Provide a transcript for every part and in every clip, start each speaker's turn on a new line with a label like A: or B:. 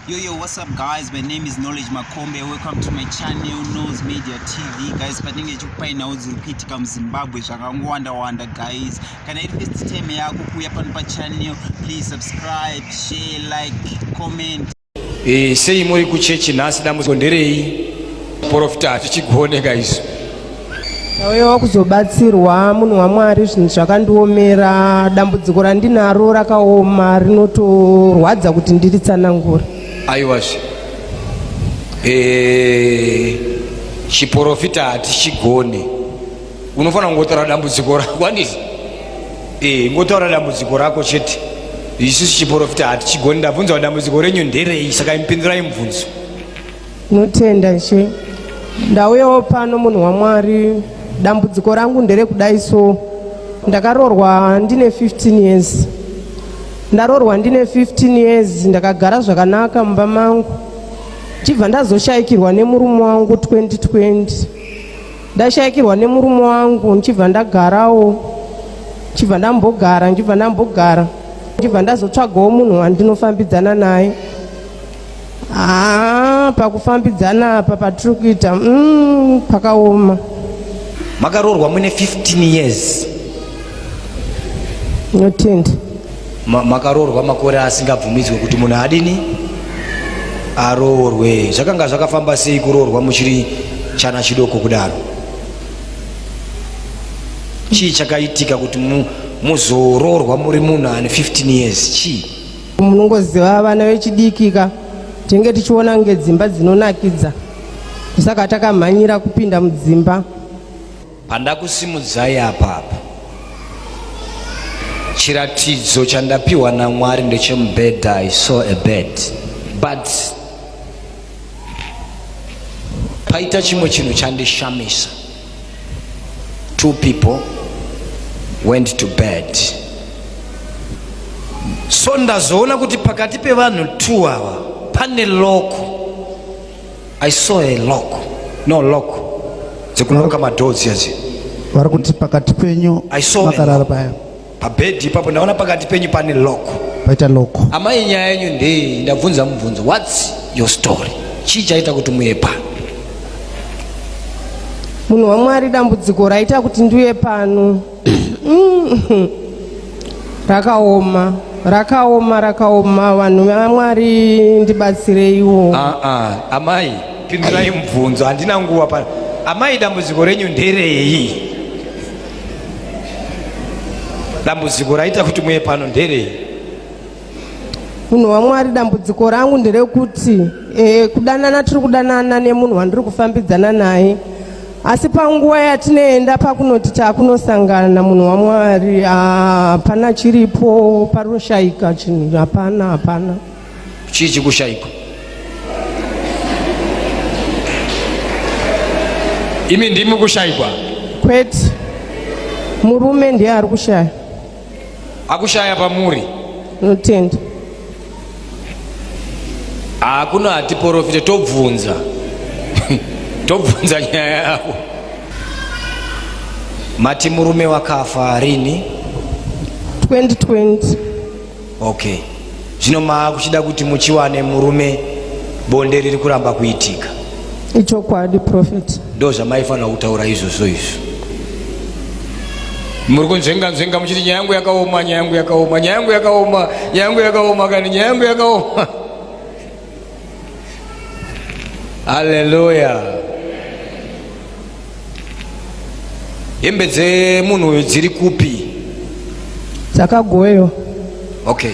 A: Yo, yo, what's up guys? My name is Knowledge Makombe. Welcome to my channel, Nose Media TV. Guys, patinenge chikupainawo dziri kuitika muZimbabwe zvakangowanda-wanda guys. Kana iri first time yako kuuya pano pachannel, please subscribe, share, like, comment. Eh, sei
B: muri kuchechi nhasi dambudziko nderei? Profita hatichigone guys. Ndauya
C: wakuzobatsirwa munhu waMwari, zvinhu zvakandiomera, dambudziko randinaro rakaoma rinotorwadza kuti ndiritsanangure. Aiwazve,
B: eh, chiporofita hatichigoni, unofanira kungotaura dambudziko rako andisi? Eh, ngotaura dambudziko rako chete, isusu chiporofita hatichigoni. Ndabvunza dambudziko renyu nderei, saka imupindurai mubvunzo. Notenda
C: she ndauyawo pano munhu waMwari dambudziko rangu nderekudai so ndakarorwa ndine 15 years ndarorwa ndine 15 years ndakagara zvakanaka mumba mangu chibva ndazoshaikirwa nemurume wangu 2020 ndashaikirwa nemurume wangu ndichibva ndagarawo ndichibva ndambogara ndichibva ndambogara ndichibva ndazotsvagawo munhu wandinofambidzana naye Haa pakufambidzana apa patiri kuita mm, pakaoma.
B: Makaroorwa mune 15 years.
C: Notenda. Ma, makaroorwa
B: makore asingabvumidzwe kuti munhu adini aroorwe. Zvakanga zvakafamba sei kuroorwa muchiri chana chidoko kudaro? Chii chakaitika kuti mu, muzoroorwa muri munhu ane 15 years? Chii? Munongoziva
C: vana vechidikika tinenge tichiona kunge dzimba dzinonakidza saka takamhanyira kupinda mudzimba. Pandakusimudzai
B: apapa chiratidzo chandapiwa naMwari ndechemubhedha I saw a bed but paita chimwe chinhu chandishamisa two people went to bed so ndazoona kuti pakati pevanhu two awa pane loko i saw a loko no loko dzekunoka madhodzi adzi vari kuti
D: pakati penyu makarara paya pabhedhi ipapo
B: ndaona pakati penyu pane lock paita lock
D: amai nyaya yenyu
B: ndei ndabvunza mubvunzo whats your story chii chaita kuti muye pano
C: munhu wamwari dambudziko raita kuti ndiuye pano mm. rakaoma rakaoma rakaoma vanhu vamwari ndibatsireiwo ah, ah. amai
B: pindirai mubvunzo handina nguva pano amai dambudziko renyu nderei dambudziko raita kuti muye pano nderei
C: munhu wamwari dambudziko rangu nderekuti e, kudanana tiri kudanana nemunhu wandiri kufambidzana naye asi panguva yatinoenda pakunoti takunosangana munhu wamwari hapana chiripo paroshaika chinhu hapana hapana chii
B: chikushaikwa imi ndimi kushaikwa kwete
C: murume ndiye ari kushaya
B: akushaya pamuri notenda hakuna hatiporofite tobvunza tobvunza nyaya yako mati murume wakafa rini
C: 2020 Okay.
B: Zvino maakuchida kuti muchiwane murume bonde riri kuramba kuitika. Ichokwadi
C: prophet. Ndo zvamaifanira
B: kutaura izvozvo izvo. Muri kunzvenga nzvenga muchiti nyaya yangu yakaoma, nyaya yangu yakaoma, nyaya yangu yakaoma, nyaya yangu yakaoma kana nyaya yangu yakaoma. Haleluya. Hembe dzemunhu uyu dziri kupi?
C: Dzakagoyo.
B: Okay.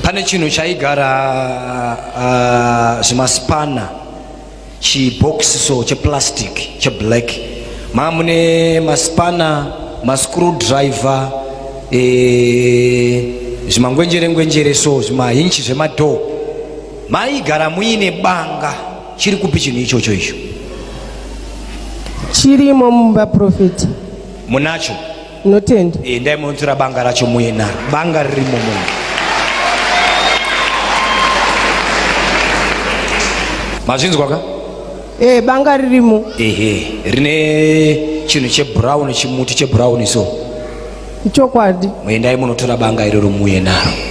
B: Pane chinhu chaigara uh, zvimaspana chibhokisi so cheplastic cheblack mamune maspana mascrew driver e, eh, zvimangwenjere ngwenjere so zvimahinchi zvemadhoo maigara muine banga chiri kupi chinhu ichocho icho
C: chirimo mumba profeti munacho
B: Tinotenda.
C: Eh, ndai munzura
B: banga racho muina banga ririmo munhu. Mazvinzwa ka? Eh, banga
C: ririmo. Ehe, rine
B: chinhu chebrown chimuti chebrown so.
C: Chokwadi.
B: Muendai munotora banga iroro muuye naro.